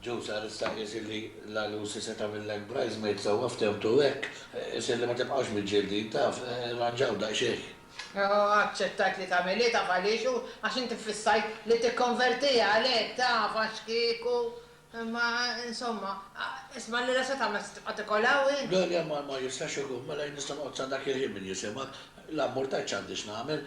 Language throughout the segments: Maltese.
Ġew sar issa qies illi l-għalusi se tagħmillek bridesmaid sewwa ftehmtu hekk, qies illi ma tibqax miġġieldin taf, irranġaw daqsxejn. Hu aċċettajt li tagħmel hi taf għaliex hu għax inti ffissajt li tikkonvertiha għalhekk taf għaxkieku imma insomma isma' allura se tagħmel se tibqa' tikol hawn int? Le le ma jistax ikun, mela jien nista' noqgħod sa dak il-ħin min jisimha, l-ammur tgħid x'għandi x'nagħmel,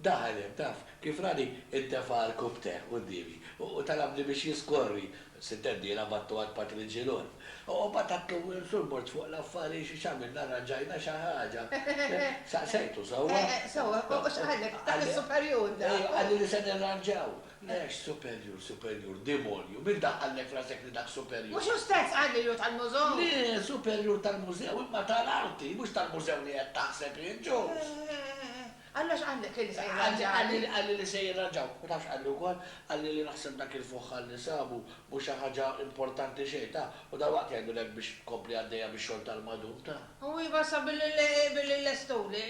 Daħal hemm, taf, kif rani intefa' l-kubteh quddiemi u talabni biex jiskorri, sitt għeddiela battu għand Patri Ġilon. U b'għatatlu sul-mort fuq l-affari x'għamilna rranġajna xi ħaġa. Saqsejtu sewwa? Sewwa, u x'qalek? Dak is-superjur da! Ejju, qalli li se nirranġaw. Le, x'superjur, superjur, demonju, min daħħallek f'rasek li dak superjur? Mhux hu stess qal li hu tal-mużew? Le, superjur tal-mużew, imma tal-arti, mhux tal-mużew li qed taħseb int, ġust? Alla x'qallek illi se jirranġani? Qalli li se jirranġaw. U taf x'qalli wkoll? Qalli li naħseb dak il-fuħħar li sabu mhu xi ħaġa importanti xejn, taf, u dalwaqt jgħidulek biex tkompli għaddejja bix-xogħol tal-madum, taf. U iva sa billi nlestuli,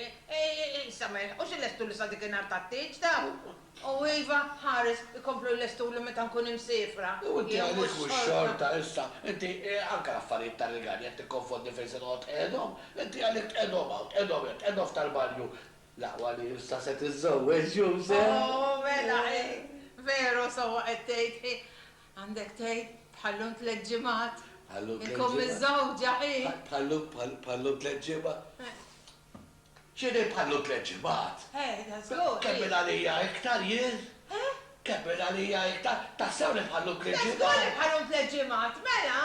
issa ma jilħqux ilestuli sa dik in-nhar tat-tieġ, taf. O iva, ħares, ikomplu jlestuli meta nkun imsiefra. U inti għalik mhux xorta issa? Inti, anke l-affarijiet tar-rigali qed tikkonfondi fejn se noqgħod qegħedhom. Inti għalik tqegħedhom hawn, tqegħedhom hemm, tqegħedhom f'tal-banju. L-aqwa li issa se tiżżewweġ, Juse. O, mela hi! Veru, sewwa qed tgħid, hi! Għandek tgħid, bħal-lum tliet ġimgħat. Bħal-lum tliet ġimgħat. Inkun miżżewġa, hi! Bħal-lum, bħal-lum tliet ġimgħat. Ġieli bħallu tliet ġimgħat. Eh, da żgur! Kemmel għalija iktar, jien. Eh? Kemmel għalija iktar. Tassew li bħallu tliet ġimgħat? Da żgur li bħalhom tliet ġimgħat, mela!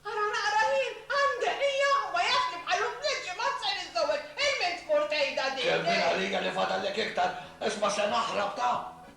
Ara naqra ħin għandek, hija! U ma jafx li bħalhom tliet ġimgħat se niżżewweġ! Il-min tmur tgħidha din, eh? Kemmel għalija li fadallek iktar, isma' se naħrab ta'!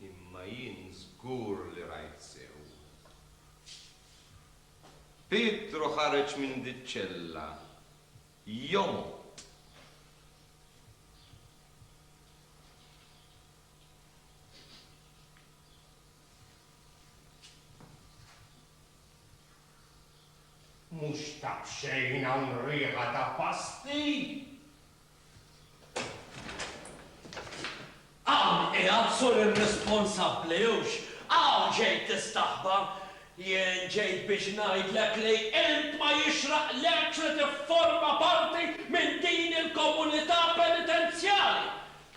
Imma jien żgur li rajt sew. Pietru ħareġ minn diċ-ċella jomgħod. Mhux ta' b'xejn hawn riħa ta' pasti! Hawn qiegħed sur irrisponsabbli hux hawn ġejt tistaħba! Jien ġejt biex ngħidlek li int ma jixraqlekx li tifforma parti minn din il-komunità penitenzjali!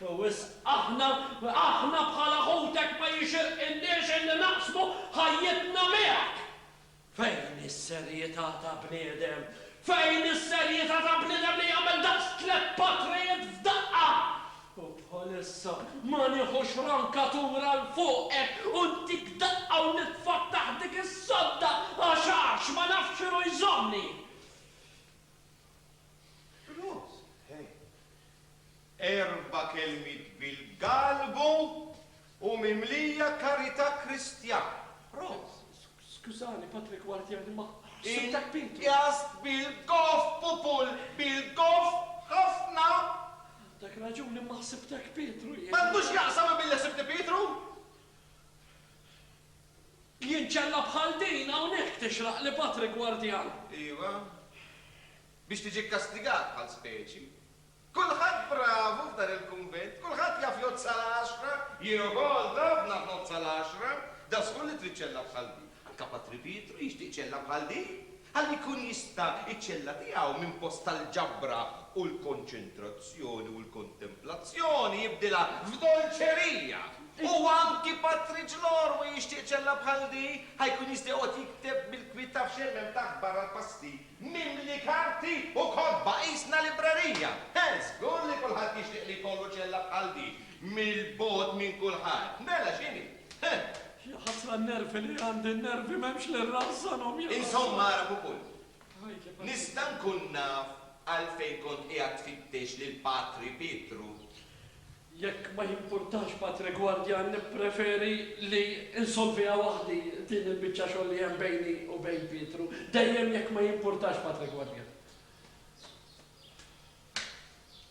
Hu wisq aħna, aħna bħala ħutek ma jixirqilniex illi naqsmu ħajjitna miegħek! Fejn is-serjità ta' bniedem? Fejn is-serjità ta' bniedem li jagħmel daqs tliet patrijiet f'daqqa? U bħalissa ma nieħux rankatura 'l fuqek u ntik daqqa u nitfgħak taħt dik is-sodda għax għax ma nafx x'inhu jżommni! Rose, Hej! Erba' kelmiet bil-Galgu u mimlija karità Kristjana. Prost! Skużani, Patri Gwardjani, ma ħsibtek Pietru! Inqjast bil-goff, pupul, bil-goff ħafna! Għandek raġun, imma ħsibtek Pietru jien! M'għandu x'jaqsam imma billi ħsibtni Pietru! Jien ċella bħal din hawnhekk tixraqli, Patri Gwardjan! Iva, biex tiġi kkastigat bħal speċi. Kulħadd bravu f'dan il-kunvent, kulħadd jaf jgħodd sal-għaxra, jien ukoll naf nagħtgħod sal-għaxra, da żgur li trid ċella bħal din. Anke Patri Pietru jixtieq ċella bħal din, ħalli jkun jista' ċ-ċella tiegħu minn post tal-ġabra u l-konċentrazzjoni u l-kontemplazzjoni jibdilha f'dolċerija. U anki Patri Ġlormu jixtieq ċella bħal din, ħa jkun jista' joqgħod jikteb bil-kwiet taf xejn m'hemm taħt barra l-pasti. mimli karti u kotba, qisna librerija! Eħ, żgur li kulħadd jixtieq li jkollu ċella bħal din, mill-bogħod minn kulħadd. Mela x'inhi? Huh! Ja ħasra n-nervi li għandi, n-nervi m'hemmx li rrażżanhom, ja ħasra! Insomma, ara pupul, nista' nkun naf għalfejn kont qiegħed tfittex lil Patri Pietru? Jekk ma jimpurtax Patri Guardia nippreferi li nsolviha waħdi din il-biċċa xogħol li hemm bejni u bejn Pietru. Dejjem jekk ma jimpurtax Patri Guardia.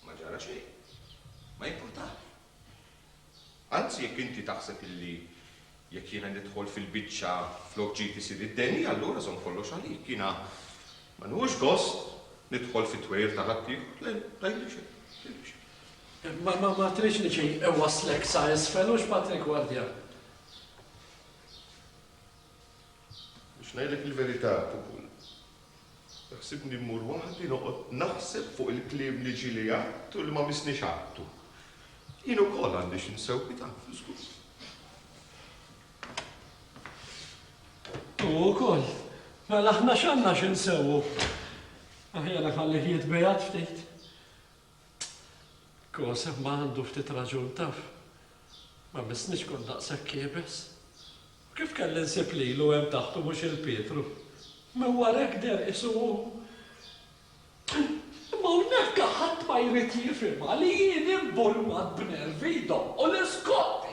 Ma ġara xejn. Ma jimpurtax. Anzi jekk inti taħseb illi Jekk jiena nidħol fil-biċċa flok ġid isir id-deni, allura żomm kollox għalik. Jiena ma nieħux gost nidħol fit-twejjel ta' ħaddieħor. Le, tgħidli xejn, tgħidli xejn. Ma tridx li xi jwasslek sa isfel, hux Patrick Wardian? Biex ngħidlek il-verità, Pupun, Ħsibni mmur waħdi noqgħod naħseb fuq il-kliem li ġieli għidt u li ma missniex għidtu. Jien ukoll għandi xi nsewwita, żgur. U ukoll, mela aħna x'għandna xi nsewwu? Aħjar iħallih jitbiegħed ftit. Tkoseb ma għandu ftit raġun taf. Ma missnix kont daqshekk iebes. U kif kelli nsib lilu hemm taħt u mhux il Pietru? Minn warajk deher qisu hu. Imma hawnhekk ħadd ma jrid jifhimha li jien imbulwat b'nervi jdoqqu l-iskotti.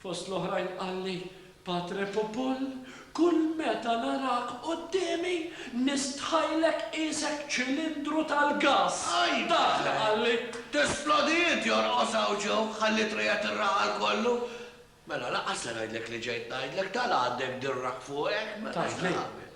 Fost l-oħrajn qalli, Patre Popul, kull meta narak quddiemi nistħajlek qiesek ċilindru tal-gass! Dak li qalli. Tesplodi int, jorqos hawn Joe, ħalliet riqet ir-raħal kollu. Mela, lanqas se ngħidlek li ġejt ngħidlek, tala' għandek dirrak fuqek, mela x'nagħmel?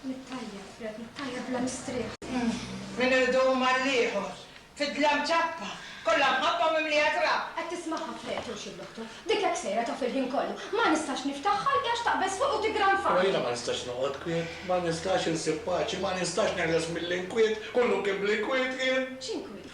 Nittajjeb, Reb, nittajjeb bla mistrieħ. Minn irdum għall-ieħor, fid-dlam ċappa, kollha mħabba mimlija trab. Qed tismagħha f'ħajja Turxi bl-otto. Dik hekk sejra taf il-ħin kollu. Ma nistax niftaħ ħalqi għax taqbeż fuqi u tigranfani. Però jiena ma nistax noqgħod kwiet, ma nistax insib paċi, ma nistax neħles mill-inkwiet, kollu kien bl-inkwiet jien. X'inkwiet?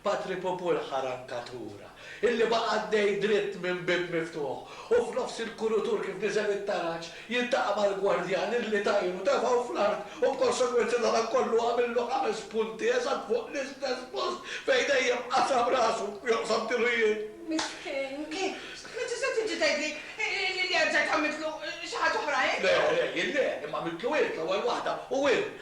Patri Pupul ħa rankatura, illi baqa' għaddej dritt minn bieb miftuħ, u f'nofs il-kurutur kif niżel it-taraġ, jiltaqa' mal-gwardjan illi tajr u tefgħu fl-art u b'konsegwenza ta' dan kollu għamillu ħames punti eżatt fuq l-istess post fejn dejjem qasam rasu joqsam tilu jien. Miskien, ma tistax tiġi tgħidli li rġajt għamiltlu xi ħaġa oħra int? Le, le, jien le, imma għamiltlu int l-ewwel waħda u int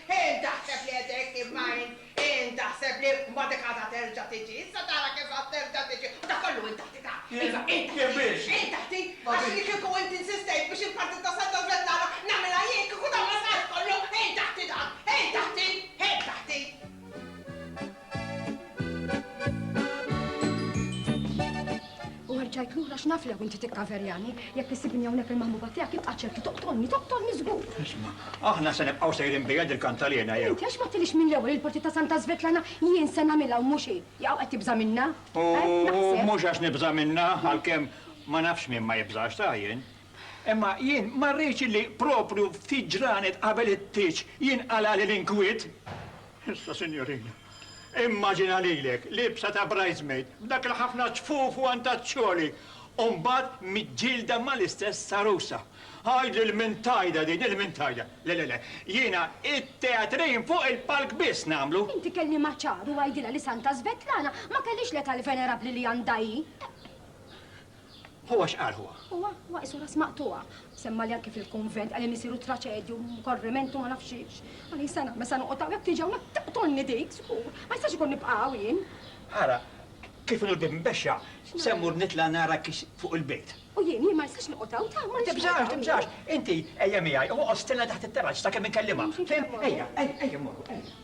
Int taħseb li qed hekk imma int, int taħseb li mbagħad hekk għadha terġa' tiġi. Issa tara kif għad terġa' tiġi u dak kollu int taħti ta'. Iva, int taħti. Jien biex? Int taħti, għax li kieku int insistejt biex il-partit ta' Santa Svetlana nagħmilha jien kieku dan ma sarx kollu, int taħti dan, int taħti, int taħti. U erġajt lura x'naf lew inti tikkaverjani, jekk issibni hawnhekk il-maħbuba tiegħek ibqa' ċert li toqtolni, toqtolni żgur. Isma', aħna se nibqgħu sejrin bija dil kantalina jew? Inti għax ma għedtilix mill-ewwel li l-parti ta' Santa Svetlana jien se nagħmilha u mhux hi. Jew qed tibża' minnha? U mhux għax nibża' minnha, għalkemm ma nafx min ma jibżax ta' jien. Imma jien ma rridx li proprju ftit ġranet qabel it-tieġ jinqalagħli l-inkwiet. Issa, sinjorina, immaġina lilek libsa ta' bridesmaid, b'dak il-ħafna ċfuf u antaċċjoli, u mbagħad miġġielda mal-istess għarusa. Għidli l-mintajda din, il-mintajda! Le, le, le, jiena t-teatrin fuq il-palk biss nagħmlu. Inti kellimha ċar u għidilha li Santa Svetlana ma kellhiex l-età l-venerabbli li għandha hi. Huwa x'qal huwa? Huwa, huwa qisu ras maqtugħa. Semmali anki fil-kunvent, qal li misieru traċedju, u korriment u ma nafx xiex. Qal li se nagħmel, se noqgħod hawn, jekk tiġi hawnhekk taqtolni dik, żgur. Ma jistax ikun nibqa' hawn jien. Ara, kif inhu l-bieb imbexxa, se mmur nitla' nara kif fuq il-bejt. U jien, jien ma nistax noqgħod hawn, ta, ma nistax noqgħod hawn. Tibżax, tibżax, inti ejja miegħi, oqgħod stenna taħt it-terrazz sakemm inkellimha. Fim? Ejja, ejja, ejja mmorru, ejja.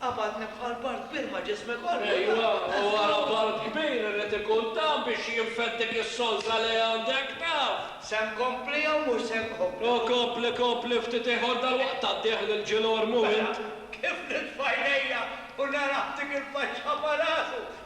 Qabadni bħal bard kbir ma' ġismi kollu. Ejwa, u wara bard kbir irid ikun tam biex jinfed dik is-solża li għandek, taf! Se nkompli jew mhux se nkompli? O kompli, kompli ftit ieħor dalwaqt tgħaddih lil Ġil Ormu int! Mela, kif nitfa' għajnejja u narah dik il-faċċa ma' rasu!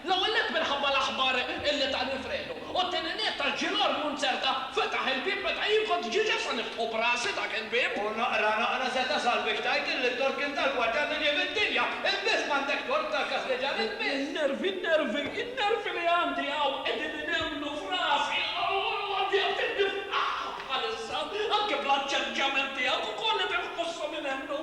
L-ewwel nett minħabba l-aħbar li ta Nifrelu, u t-tieni nett għax Ġilor Munzerta fetaħ il-bieb meta jien kont ġiġa sa niftħu b'rasi dak il-bieb. U naqra naqra se tasal biex tgħid illi t-tort kien tal-Gwardan li ġie mid-dinja. Int biss m'għandek tort tal-Kastiġan, int biss! N-nervi, n-nervi, n-nervi li għandi hawn qegħdin inemmlu f'rasi u għandi qed innifħaħ bħalissa, anke bl-aċċerġjament tiegħek ukoll qed inħosshom inemmlu.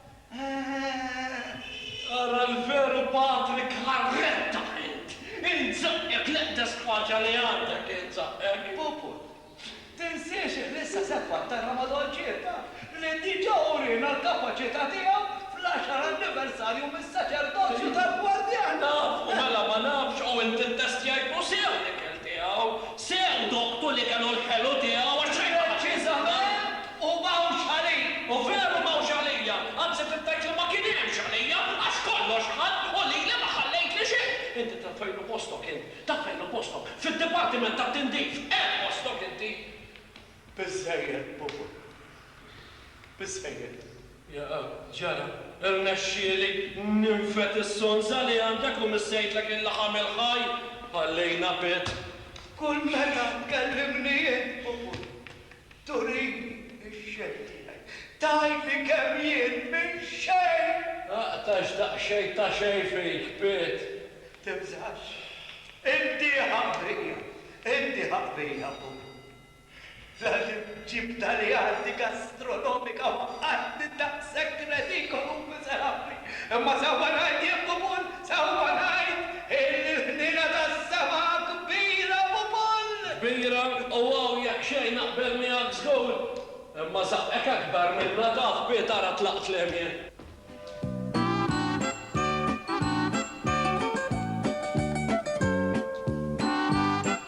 Eehh! Ara l-veru Patrick Harretta int! Int żaqqek l-eqdess spaċja li għandek int żaqqek! Puput. Tinsiex li issa se tfakkarna ma' Don Circa li diġà uriena l-kapaċità tiegħu fl-għaxar anniversarju mis-saċerdozju tal-gwardjan! Naf, u mela ma nafx u int ittestjajtlu sew l-ikel tiegħu, sew doqtu li kellu l-ħelu tiegħu għax xejn ma ħassejt li dan. Preċiżament! U m'hawnx għalik! U veru m'hawnx għalija! Anzi trid tgħid li ma kien hemmx għalija, għax kollox ħa u lili ma ħallejtli xejn! Inti taf fejn hu postok int? Taf fejn hu postok? Fid-dipartiment tat-tindif! Hemm postok inti! Biżżejjed, Bubu. Biżżejjed. Jaqa', ġara, irnexxieli ninfed is-sonża li għandek u missejtlek il-laħam il-ħaj! Ħallejna pit! Kull meta tkellimni int, Bubu, Turini x-xejn tiegħi. Tgħidli kemm jien minn xejn! Aqtax daqsxejn ta' xejn fik, Pit! Tibżax. Iddieha qbija. Iddieha qbija, Pupu. Dan li ġibtha li għandi gastronomika u għandi daqshekk redikolu u miżerabbli. Imma sewwa ngħid jien, Pupun, Sewwa ngħid illi l-ħniena tas-sema kbira ukoll! Kbira, u hawn jekk xejn naqbel miegħek żgur. Imma saqqek akbar minnha taf bi tara tlaqt l-għemien.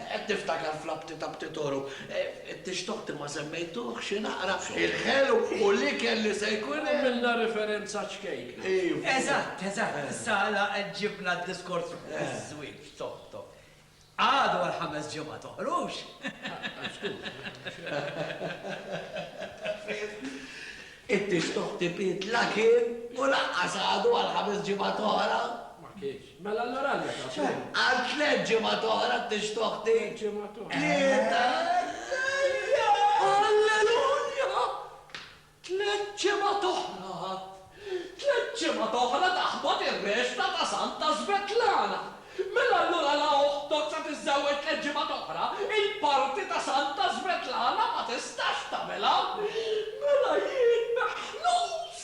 Qed niftakar fl-abti ta' Ptitoru, it-tixtoħ ti ma semmejtuh, xi naqra, il-ħelu u l-ikel li se jkun hemm. Għamilna riferenza għaċ-ċkejkna. Iva. Eżatt, eżatt, issa għala qed ġibna d-diskors fuq iż-żwieġ, toh, toh. Għadu għal ħames ġimgħat oħrux! It-tixtoħ ti biet la kien u lanqas għadu għal ħames ġimgħat oħra. Ma kienx. Mela allura għaliex għad tmur? Għal tliet ġimgħat oħra tixtħu oħti? Tliet ġimgħat oħra. Tlieta! Alleluja! Tliet ġimgħat oħra għad. Tliet ġimgħat oħra taħbad ir-rexta ta' Santa Svetlana. Mela allura la oħtok se tiżżewweġ tliet ġimgħat oħra, il-parti ta' Santa Svetlana ma tistax tagħmilha. Mela jien meħlus!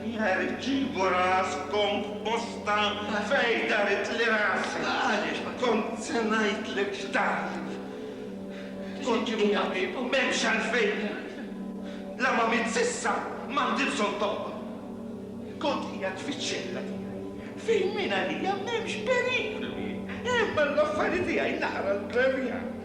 Nerġi' b'ras komposta fejn daritli rasi. Għaliex ma. Kont se ngħidlek x'dart. Kont imur ħabib u m'hemmx għalfejn. La ma mitt s'issa, m'għandi bżonn tobba. Kont qiegħed fiċ-ċella tiegħi fejn mingħalija m'hemmx periklu jien. Imma l-affari tiegħi naqra l-premja.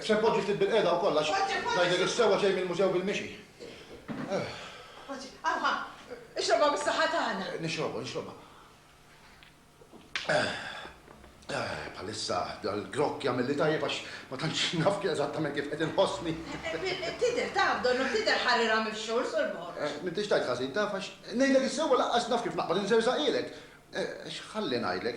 Se npoġġi ftit bilqiegħda wkoll għax, ngħidlek is-sewwa xejn mill-mużew bil-mixi. Poġġi, hawn ha, ixrobha bis-saħħa tagħna. Nixrobha, nixrobha. Bħalissa dal-grokk jagħmilli tajjeb għax ma tantx naf eżattament kif qed inħossni. Tidher taf, donnok tidher ħarirha mix-xhur, Sur Borg. M'intix tajt ħażin taf għax, ngħidlek is-sewwa lanqas naf kif naqbad inżerżaqhielek. X'ħalli ngħidlek,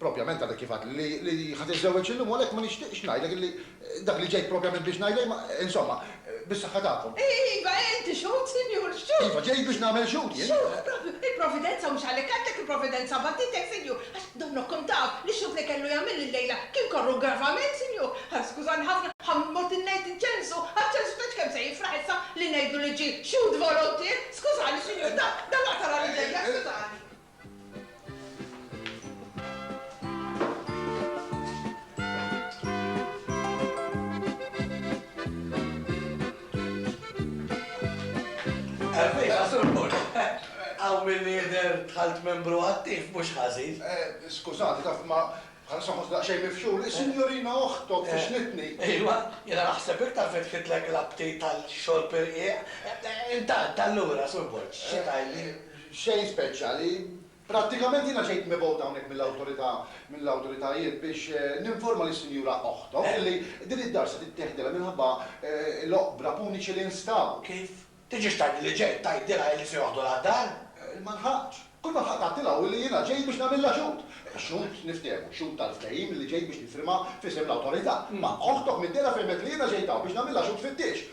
Propjament għadek kif għedt li ħa tiżżewweġ illum u għalhekk ma nixtieqx ngħidlek li dak li ġejt propjament biex ngħidlek imma, insomma, bis-saħħa tagħkom. Iva, inti xhud, Sinjur, xhud! Iva, ġejt biex nagħmel xhud jien. Xhud propju! Il-Providenza mhux għalhekk għeddlek, il-Providenza bagħtitek, Sinjur, għax donnok kont taf li x-xhud li kellu jagħmilli llejla kien korru gravament, Sinjur. Skużani ħafna, ħa mmut ngħid inċensu, għaċ-ċensu tgħidx kemm se jifraħ issa li ngħidlu li ġie xhud volontier! Skużani, Sinjur, dan, dan aqtagħ l-għalidejja, skużani. Hawn milli jidher dħalt membru attiv mhux ħażin. Skużani, taf, ma bħalissa nħossni daqsxejn mifxul. Is-Sinjorina oħtok fixlitni. Iva, jiena naħseb iktar fetħitlek l-aptit għal xorb irqiq. Intant, allura, Sur Borg, xi tgħidli? Xejn speċjali. Prattikament jiena ġejt mibgħut hawnhekk mill-awtorità, mill-awtoritajiet biex ninforma lis-Sinjura oħtok li din id-dar se titteħdilha minħabba l-oqbra puniċi li nstabu. Kif? Tiġix tgħidli li ġejt tgħidilha illi se joħdulha d-dar? Ma lħaqtx. Kull ma lħaqt għedtilha hu li jiena ġejt biex nagħmilha xhud. Xhud, niftehmu, xhud tal-ftehim illi ġejt biex nifirma f'isem l-awtorità. Imma oħtok mid-dehra fehmet li jiena ġejt hawn biex nagħmilha xhud fittiex.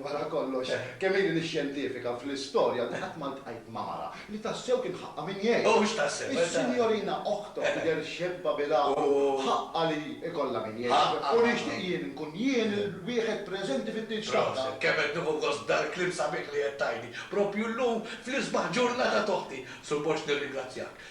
Wara kollox, kemm ili nixxjentifika fl-istorja li qatt ma ltqajt ma' mara li tassew kien ħaqqha min jgħin. U mhux tassew, eżatt. Is-Sinjorina Ochtok tidher xebba bil-għaqal u ħaqqha li jkollha min jgħinha. Ħaqqha. U nixtieq jien nkun jien il-wieħed preżenti fit-tieġ tagħha. Proset. Kemm qed nieħu gost b'dal-kliem sabiħ li qed tgħidli, proprju llum fl-isbaħ ġurnata t'oħti. Sur Borg nirringrazzjak.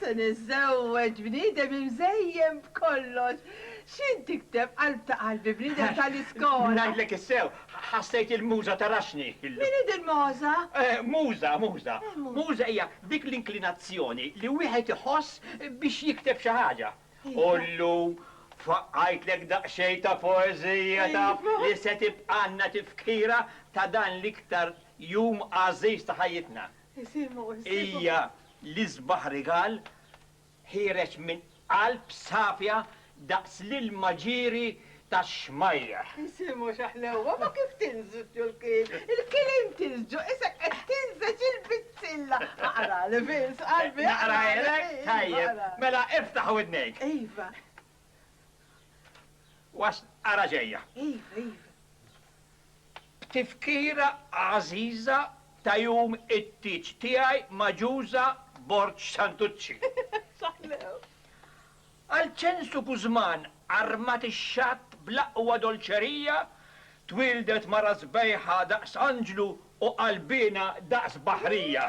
Se niżżewweġ bniedem imżejjen b'kollox. X'int tikteb, qalb ta' qalbi, bniedem tal-iskola? Ngħidlek is-sew, ħassejt il-Muża taraxxni illum. Min hi din Moża? Muża, muża. Muża hija dik l-inklinazzjoni li wieħed iħoss biex jikteb xi ħaġa. U llum faqqajtlek daqsxejn ta' poeżija taf li se tibqgħalna tifkira ta' dan l-iktar jum għażiż ta' ħajjitna. Hija l-isbaħ rigal ħiereġ minn qalb safja daqs l-ilma ġieri tax-xmajjar. Was ara ġejja. Iva, iva. B'tifkira għażiża ta' jum it-tieġ tiegħi magħġuża Borġ Santucci. Ħallew. Għal ċensu Guzman armat ix-xatt bl-aqwa dolċerija, twieldet mara sbejħa daqs anġlu u qalbiena daqs baħrija.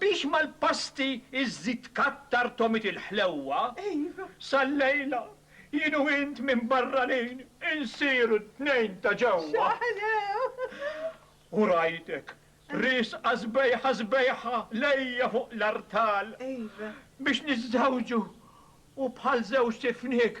Biex mal-pasti iżżid tkattar tomit il-ħlewwa, sal-lejla jien u int minn barranin insiru t-tnejn ta' ġewwa. U rajtek riesqa sbejħa sbejħa lejja fuq l-artal biex niżżewġu u bħal żewġt ifniek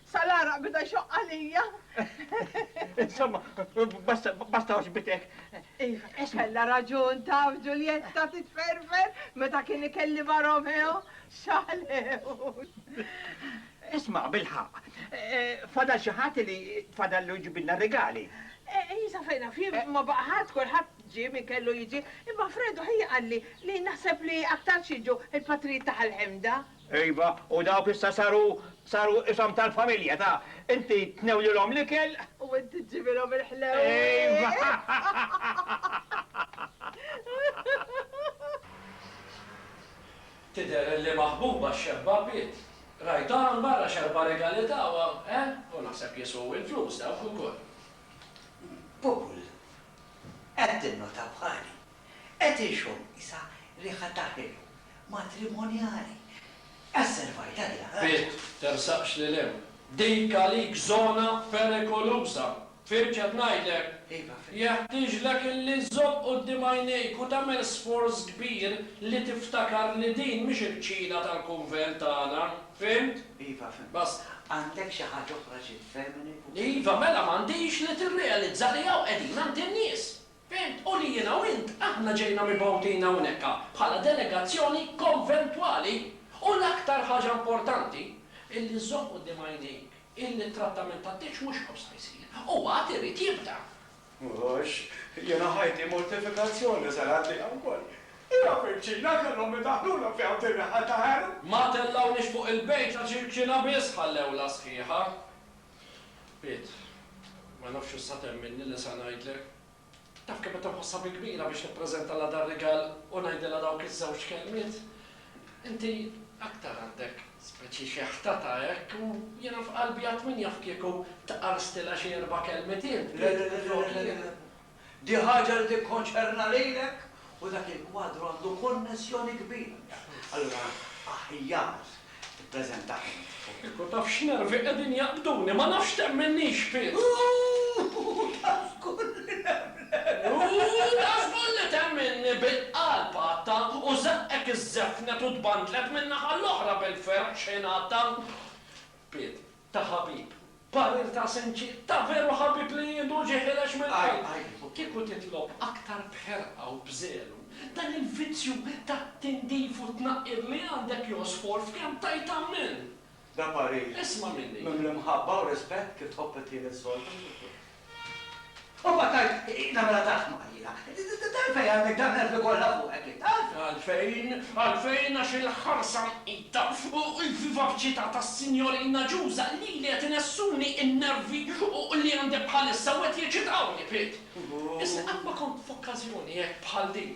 Sa l-għaraq bida jxoqq għalija. Insomma, basta, basta oġbitek. Iva, kella raġun taf Ġuljetta titferfer meta kien ikelli ma' Romeo xalew. Isma' bil-ħaq, eh, fadal xi ħadd li fadal lu jġibilna regali. Eh, Isa fejna fim eh. ma baqa' ħadd kulħadd ġie min kellu jiġi, imma Fredu ħija qalli li naħseb li aktar jiġu il-patrijiet ta' ħal-ħemda. Iva, u dawk issa saru, saru ishom tal-familja, ta, inti tnewlilhom l-ikel. U inti ġġibilhom il-ħlewwiet. Iva! Tidher li maħbuba x-xebba bid. Rajthom hawn barra x'erba' rigali tawha, eh? U naħseb jiswu il-flus dawk ukoll. Pupull, qed tinnota bħali? Qed inxomm qisha riħa ta' ħelu matrimonjali. Asservajtha di għal. Bit, tersaqx lil hemm. Dik għalik żona perikoluża. Fhimt x'qed ngħidlek? Iva, fhimt. Jeħtieġlek illi żżomm quddiem għajnejk u tagħmel sforz kbir li tiftakar li din mhix il-kċina tal-kunvent tagħna. Fhimt? Iva, fhimt. Basta. Għandek xi ħaġa oħra xi tfehmni fuq. Iva, mela m'għandix li tirrealizza li hawn qegħdin għand in-nies. Fimt, u li jiena u int aħna ġejna mibgħutin hawnhekk bħala delegazzjoni konventwali u l-aktar ħaġa importanti hi li żżomm quddiem għajnejk illi t-trattament tat-tieġ mhux hawn sa jsir, u għad irid jibda. Mhux, jiena ħajti mortifikazzjoni ser għaddiha wkoll. Hija virċina kellhom idaħħlulha fiha u tinreħħa ta' għenu. Ma tellgħunix fuq il-bejta ċirkina biss ħallewlha sħiħa. Piet, Ma nafx issa temminni li se ngħidlek. Taf kemm qed inħossha bi kbira biex nippreżentalha dar-rigal u ngħidilha dawk iż-żewġ kelmiet. Inti aktar għandek speċi xi ħtata hekk u jiena f'qalbi għad min jaf kieku tqarstilha xi erba' kelmiet int, Piet, minflok li. Di ħaġa li tikkonċerna lilek u dak il-kwadru għandu konnessjoni kbira miegħek. Allura aħjar tippreżentah int. U kieku taf x'nervi qegħdin jaqbduni, ma nafx temminnix fih! Hu ta' żgur li nemnek! Hu ta' żgur li temminni! bil-qalb għadtha u żaqqet iż-żefnet u tbandlet min-naħa l-oħra bil-ferħ xejn għadtha. Pietru. ta' ħabib, parir ta' sinċier, ta' veru ħabib li jieħdu ġieħ ilex mill-qalb. Kieku titlob aktar b'ħerqa u b'żelu, dan il-vizzju tat-tindif u t-tnaqqir li għandek josfor f'kemm tgħid Ammen! Da parir. Isma' minni. Mimli mħabba u rispett kif tħobb it-tielet soltu. U mbagħad tgħid, Hi nagħmilha tard ma ilha. T'għalfejn għandek dawn l-elfi kollha fuqek int? Għalfejn? Għalfejn għax il-ħarsa mqita u l-vivaċità tas-sinjorina Ġuża lili qed inessuni n-nervi li għandi bħalissa u qed jeċitawni, Pit. Isni qatt ma kont f'okkażjoni hekk bħal din.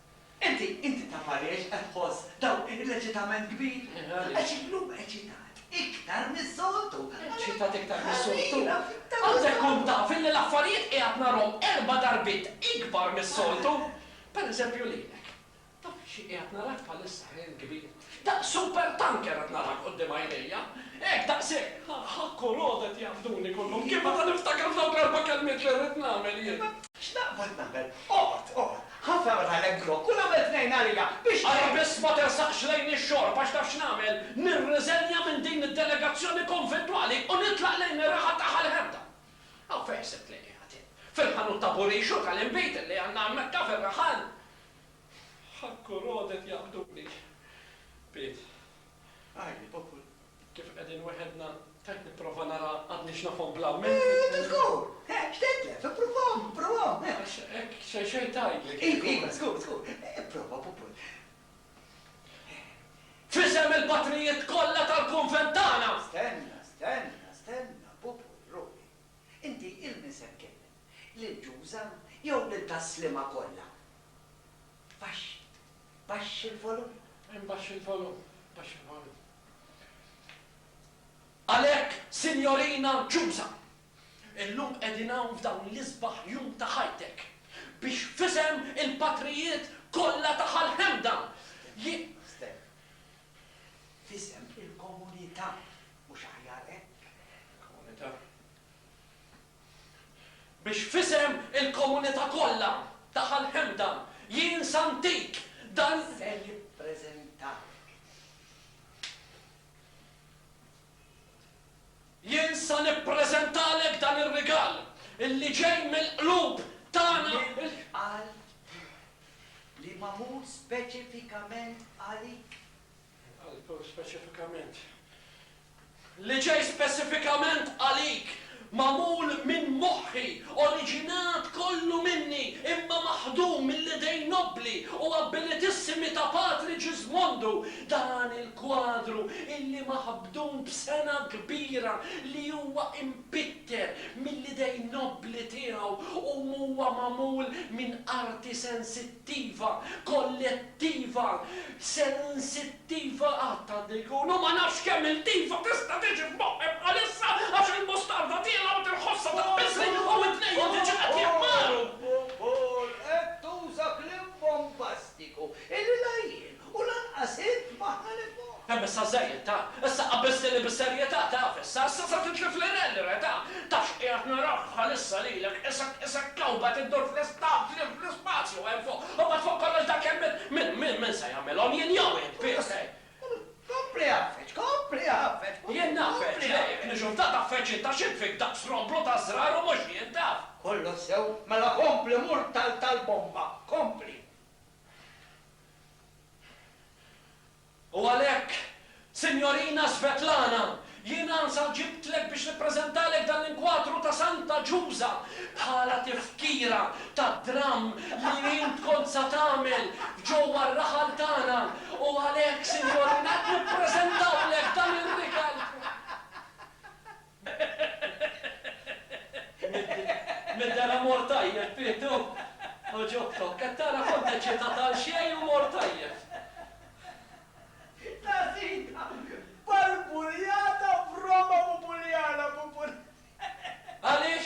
Inti, inti taf għaliex qed tħoss dawn l-eċitament kbir? Għax illum eċitat iktar mis-soltu. Eċitat iktar mis-soltu? Għandek tkun taf illi l-affarijiet qiegħed narhom erba' darbiet ikbar mis-soltu. Pereżempju lilek. Taf xi qiegħed narak bħalissa, ħin kbir. Daqs supertanker qed naraħ quddiem għajnejja. Hekk, daqshekk. Ħakku l-għodu qed jaqbduni kollhom. Kif għad niftakar f'dawk l-erba' kelmiet li rrid nagħmel jien? X'naqbad nagħmel? Oqgħod, oqgħod. Ħa fergħa lek grokk u nagħmel tnejn għalija, biex tgħin. Ara biss ma tersaqx lejn ix-xorb, għax taf x'nagħmel? Nirriżenja minn din id-delegazzjoni konventwali u nitlaq lejn ir-raħal ta' Ħal Ħemda. Hawn fejn se tlaqiegħ int? Fil-ħanut ta' Burixu tal-inbid li għandna hemmhekk taf ir-raħal? Ħakkur għodet jaqbduni. Piet. Għajr popol. Kif qegħdin weħedna, tajt nipprova nara għadniex nafhom bla minn. Intu żgur! He, x'tedlef, ippruvahom, ippruvahom, he! Għax hekk xejn xejn tgħidlek. Iva, iva, żgur, żgur. Ipprova, popol. F'isem il-patrijiet kollha tal-kunvent tagħna! Stenna, stenna, stenna, popol, ruħi. Inti 'l min se tkellem? Lil Ġuża jew lil tas-slima kollha? Baxx. Baxx il-volum. Imbaxx il-volum. Baxx il-volum. Għalhekk, Sinjorina Jusa, illum qegħdin hawn f'dawn l-isbaħ jum ta' ħajtek biex f'isem il-patrijiet kollha ta' Ħal Ħemda ji. Steh. F'isem il-komunità, mhux aħjar hekk? Il-komunità. Biex f'isem il-komunità kollha ta' Ħal Hemda jien sa ntik dan. Se nippreżentak. Jien sa nippreżentalek dan ir-rigal li ġej mill-qlub tagħna. Mill-qalb tiegħi. Li magħmul speċifikament għalik. Għal speċifikament. Li ġej speċifikament għalik, magħmul minn moħħi, oriġinat kollu minni, imma maħdum mill-idejn nobbli u abbilitissimi ta' Patri Ġiżmondu, dan il-kwadru illi maħbdun b'sengħa kbira li huwa impitter mill-idejn nobbli tiegħu u huwa magħmul minn arti sensittiva, attiva, kollettiva, sensittiva qatt għandu jkun u ma nafx kemm il-diva tista' tiġi f'moħħi bħalissa għax il-mustarda tiela' u tinħossha taqbiżli u widnejja diġà qed jaqmgħu! Paul, qed tuża kliem bombastiku illi la jien U lanqas int m'aħna lil fuq. Hemm issa żejjed, ta! Issa qabbżtni bis-serjetà, taf, issa, issa se titlifli lil, re, ta! Taf x'qiegħed nara bħalissa lilek, isek, isek kewbet iddur fl-ispazju, fl-ispazju hemm fuq, u mbagħad fuq kollox dak hemm min, min, min, min se jagħmilhom, jien jew int, biss, eh! Kompli għaffeġ, kompli għaffeġ, kompli, kompli għaffeġ! Jien ngħaffeġ, le, jekk niġu f'dan tgħaffeġ int għax int fik daqq stromblu ta' żrar u mhux jien, taf! Kollox sew, mela kompli mur tal, tal-bomba, kompli! U għalhekk, Sinjorina Svetlana, jiena sa ġibtlek biex nippreżentalek dan l-inkwatru ta' Santa Ġuża bħala tifkira tad-dramm li int kont sa tagħmel f'ġewwa r-raħal tagħna u għalhekk, Sinjorina, qed nippreżentawlek dan ir-rigal. Nidher ha mor tajjeb Pietru! Għoġobtok! Qed tara kont eċitat għal xejn u mor tajjeb! Ta' sida! Barbuljata b'Roma Bubuljana! Għaliex?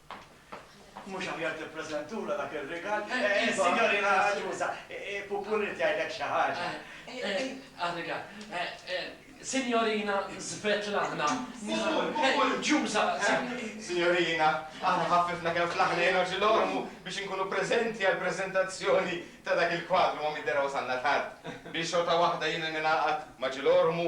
Mhux aħjar tippreżentulha dak ir-rigal? Sinjorina Aġuża, Pupu rrid jgħidlek xi ħaġa. Għar-rigal. Sinjorina Svetlana. Ġuża. Sinjorina, aħna ħaffifna kemm flaħna u ġilgħormu biex inkunu preżenti għall-preżentazzjoni ta' dak il-kwadru ma' midderha wasalna tard. Biex xorta waħda jiena ningħaqad ma' ġilgħormu